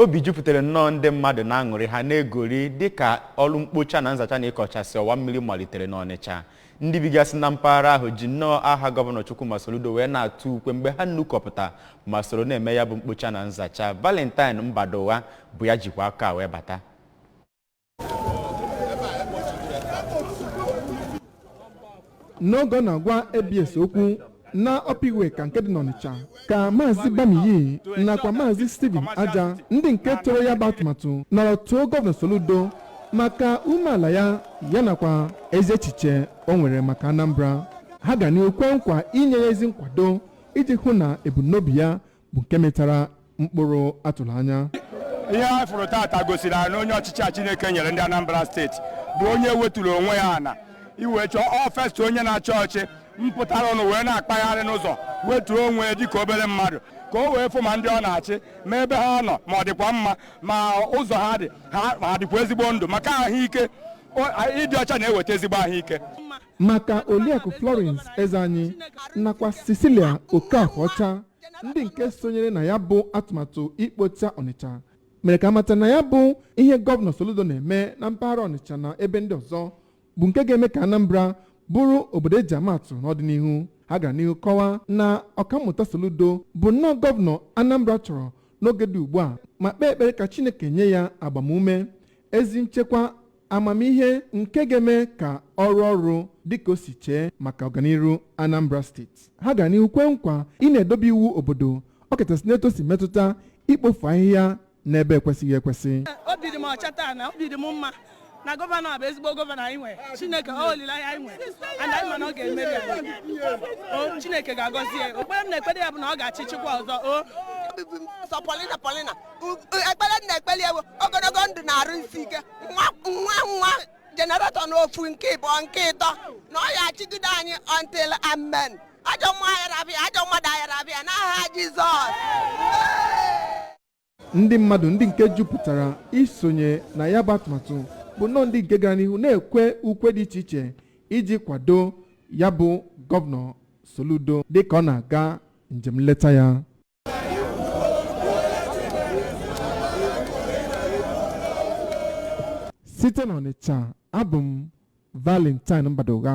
obi jupụtara nnọọ ndị mmadụ na aṅụrị ha na-egori dịka ọrụ mkpocha na nzacha na ịkọchasị ọwa mmiri malitere n'Ọnịcha ndị bigasị na mpaghara ahụ ji nnọọ aha gọvanọ Chukwuma Soludo wee na-atụ ukwe mgbe ha nnukọpụta ma soro na-eme ya bụ mkpocha na nzacha Valentine Mbadugha bụ ya jikwa akụkọ a wee bata n'oge ọ na-agwa abs okwu na upper iweka nke dị n'ọnịcha ka maazị bamiyi nakwa maazị steven aja ndị nke toro ya bụ atụmatụ nọrọ too gọvanọ soludo maka umeala ya ya nakwa ezi echiche o nwere maka anambra ha ga n'ihu kwee nkwa inye ya ezi nkwado iji hụ na ebumnobi ya bụ nke mịtara mkpụrụ a tụrụ anya ihe a fụrụ tata gosiri na onye ọchịchị a Chineke nyere ndị Anambra steeti bụ onye weturu onwe ya ana iwe chọọ ọ first onye na-achị ọchị mpụtara ọnụ wee na-akpagharị n'ụzọ wetuo onwe ya dịka obere mmadụ ka o wee fụ ma ndị ọ na-achị ma ebe ha nọ ma ọ dịkwa mma ma ụzọ ha dị ha dịkwa ezigbo ndụ maka ahụike ịdị ọcha na-eweta ezigbo ahụike maka Oriakụ Florence Ezeanyi nakwa Cecilia Okafor-Ọcha ndị nke sonyere na ya bụ atụmatụ ikpocha Ọnịcha mere ka a mata na ya bụ ihe gọvanọ Soludo na-eme na mpaghara Ọnịcha na ebe ndị ọzọ bụ nke ga-eme ka Anambra bụrụ obodo e ji ama atụ n'ọdịnihu ha gara n'ihu kọwaa na ọkammụta Soludo bụ nnọọ gọvanọ Anambra chọrọ n'oge dị ugbu a ma kpee ekpere ka Chineke nye ya agbamume ezi nchekwa amamihe nke ga-eme ka ọ rụọ ọrụ dịka o si chee maka ọganiru Anambra steeti ha gara n'ihu kwee nkwa ị na-edobe iwu obodo ọ kachasị n'etu o si metụta ikpofu ahịhịa n'ebe ekwesịghị ekwesị obi dị m ọcha taa na obi dị m mma na gọvanọ a bụ ezigbo gọvanọ anyị nwere chineke ọ olileanya anyị nwere and anyị ma na ọ ga-emere anyị o chineke ga-agọzi ya ekpere m na-ekpere ya bụ na ọ ga-achị chịkwa ọzọ o Obi bụ sọ polina polina ekpere na-ekpere ya wụ ogologo ndụ na arụ isi ike nwa nwa nwa generation ofu nke ịbụọ nke ịtọ na ọ ya-achịgide anyị until amen ajọ mmụọ ayarabịa ajọ mmadụ ayarabịa n'aha jizọs ndị mmadụ ndị nke jupụtara isonye na ya bụ atụmatụ bụ nnọọ ndị nke gara n'ihu na-ekwe ukwe dị iche iche iji kwado ya bụ gọvanọ Soludo dịka ọ na-aga njem nleta ya site n'ọnịcha abụ m valentine mbadugha